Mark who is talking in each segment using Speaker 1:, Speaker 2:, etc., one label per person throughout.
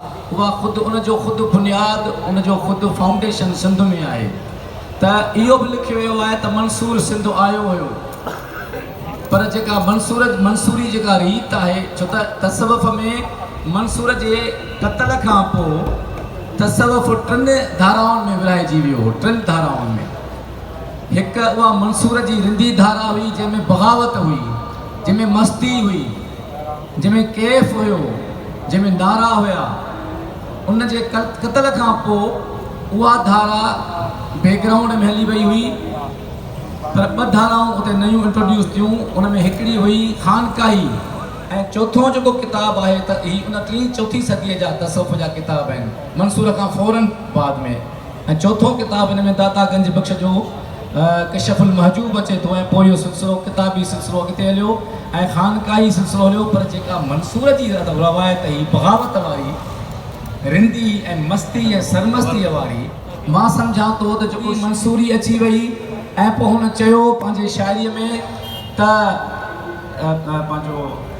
Speaker 1: اها خود ان جو خود بنياد ان جو خود فائونڊيشن سنڌ ۾ آهي ته اهو به لکيو ويو آهي ته منصور سنڌ آيو هيو پر جيڪا منصور منصوري جيڪا ريت آهي ڇو ته تصوف ۾ منصور جي قتل کان پوء تصوف ٽن ڌارائن ۾ ورهائجي ويو هو ٽن ڌارائن ۾ هڪ اها منصور جي رندي ڌارا هئي جنهن ۾ بغاوت هئي جنهن ۾ مستي هئي جنهن ۾ ڪيف هيو، جنهن ۾ نعرا هيا، ان جي قتل کان پوء اها ڌارا بيڪ گرائونڊ ۾ هلي وئي هئي پر ٻه ڌارائون اتي نيون انٽروڊيوس ٿيون ان ۾ هڪڙي هئي خانقاهي ۽ چوٿون جيڪو ڪتاب آهي ته هي ان ٽين چوٿين صديء جا تصوف جا ڪتاب آهن منصوره کان فورن بعد ۾. ۽ چوٿون ڪتاب هن ۾ داتا گنج بخش جو ڪشف المحجوب اچي ٿو ۽ پوء اهو سلسلو ڪتابي سلسلو اڳتي هليو ۽ خانقاهي سلسلو هليو پر جيڪا منصور جي روايت هئي بغاوت واري رندي ۽ مستي ۽ سرمستيء واري مان سمجهان ٿو ته جيڪو منصوري اچي وئي ۽ پوء هن چيو پنهنجي شاعريء ۾ ته پنهنجو.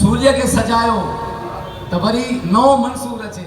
Speaker 1: سوريء کي سجايو ته وري نئون منصور اچي.